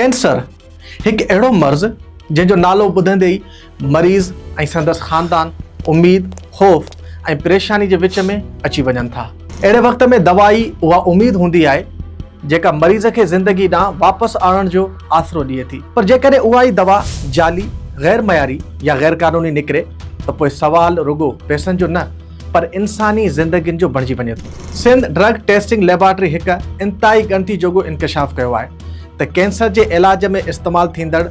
Cancer هڪ اهڙو مرض جنهن جو نالو ٻڌندي ئي مريض ۽ سندس خاندان اميد خوف ۽ پريشاني جي وچ ۾ اچي وڃن ٿا اهڙي وقت ۾ دوائي اها اميد هوندي آهي جيڪا مريض کي زندگي ڏانهن واپس آڻڻ جو آسرو ڏئي ٿي پر جيڪڏهن اها ئي دوا جعلي، غير معياري يا غير قانوني نڪري ته پوء سوال رڳو پئسن جو نه پر انساني زندگين جو بڻجي وڃي ٿو. سنڌ ڊرگ ٽيسٽنگ ليبارٽري هڪ انتهائي ڳڻتي جوڳو انڪشاف ڪيو آهي ته ڪينسر جي علاج ۾ استعمال ٿيندڙ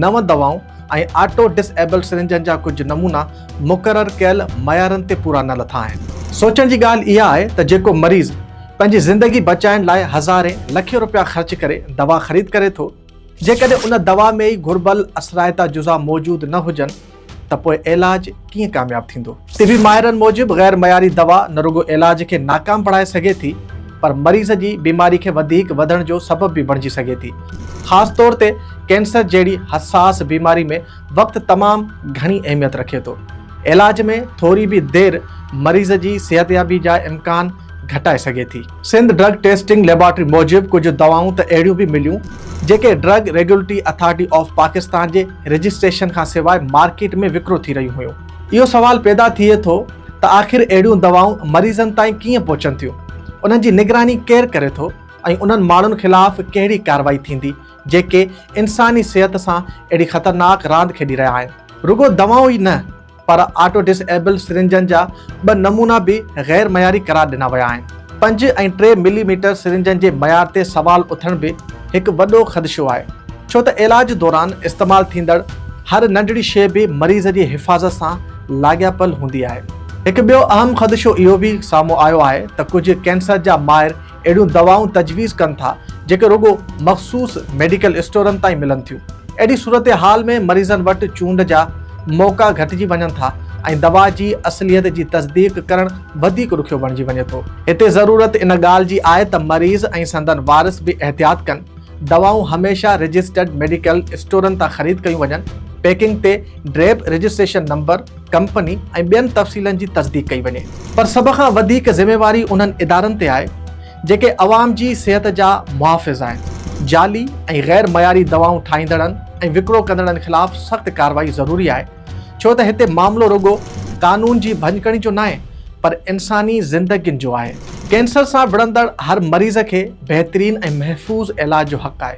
نو دوائون ۽ آٽو ڊس ايبل سرنجن جا ڪجهه نمونا مقرر ڪيل معيارن تي پورا نه لٿا آهن. سوچڻ جي ڳالهه اها آهي ته جيڪو مريض پنهنجي زندگي بچائڻ لاء هزارين لکين روپيا خرچ ڪري دوا خريد ڪري ٿو، جيڪڏهن ان دوا ۾ ئي گهربل اثرائتا جزا موجود نه هجن ته پوء علاج ڪيئن ڪامياب ٿيندو؟ طبي ماهرن موجب غير معياري دوا نه رڳو علاج کي ناڪام بڻائي سگهي ٿي پر مريض جي بيماري کي وڌيڪ وڌڻ جو سبب به بڻجي سگهي ٿي، خاص طور تي ڪينسر جهڙي حساس بيماري ۾ وقت تمام گهڻي اهميت رکي ٿو، علاج ۾ ٿوري به دير مريض جي صحتيابي جا امڪان گهٽائي سگهي ٿي. سنڌ ڊرگ ٽيسٽنگ ليبارٽري موجب ڪجهه دوائون ته اهڙيون به مليون جيڪي drug regulatory authority of Pakistan جي رجسٽريشن کان سواء مارڪيٽ ۾ وڪرو ٿي رهيون هيون. اهو سوال پيدا ٿئي ٿو ته آخر اهڙيون دوائون مريضن تائين ڪيئن پهچن ٿيون، انهن جي نگراني ڪير ڪري ٿو ۽ انهن ماڻهن خلاف ڪهڙي ڪارروائي ٿيندي جيڪي انساني صحت سان اهڙي خطرناڪ راند کيڏي رهيا آهن. رڳو دوائون ئي نه پر آٽو ڊس ايبل سرنجن جا ٻه نمونا به غير معياري قرار ڏنا ويا آهن. پنج ۽ ٽي ملي ميٽر سرنجن جي معيار تي سوال اٿڻ به هڪ وڏو خدشو آهي ڇو ته علاج دوران استعمال ٿيندڙ هر ننڍڙي شيء به مريض جي حفاظت سان لاڳاپيل هوندي آهي. هڪ ٻيو اهم خدشو اهو به سامهون آيو آهي ته ڪجهه ڪينسر جا ماهر اهڙيون دوائون تجويز ڪن ٿا جيڪي رڳو مخصوص ميڊيڪل اسٽورن تان ئي ملن ٿيون. اهڙي صورتحال ۾ مريضن وٽ چونڊ جا موقعا گهٽجي وڃن ٿا ۽ دوا جي اصليت جي تصديق ڪرڻ وڌيڪ ڏکيو بڻجي وڃي ٿو. هتي ضرورت ان ڳالهه جي آهي ته مريض ۽ سندن وارث به احتياط ڪن. دوائون هميشه رجسٽرڊ ميڊيڪل اسٽورن تان خريد ڪيون وڃن. پيڪنگ تي ڊريپ رجسٽريشن نمبر، ڪمپني ۽ ٻين تفصيلن جي تصديق ڪئي وڃي. پر سڀ کان وڌيڪ ذميواري انهن ادارن تي آهي جيڪي عوام جي صحت جا محافظ آهن، جعلي ۽ غير معياري دوائون ٺاهيندڙن ۽ وڪرو ڪندڙن خلاف سخت ڪارروائي ضروري آهي ڇو ته هتي معاملو رڳو قانون جي ڀڃڪڙي جو ناهي پر انساني زندگين جو آهي. ڪينسر سان وڙهندڙ هر مريض کي بهترين ۽ محفوظ علاج جو حق آهي.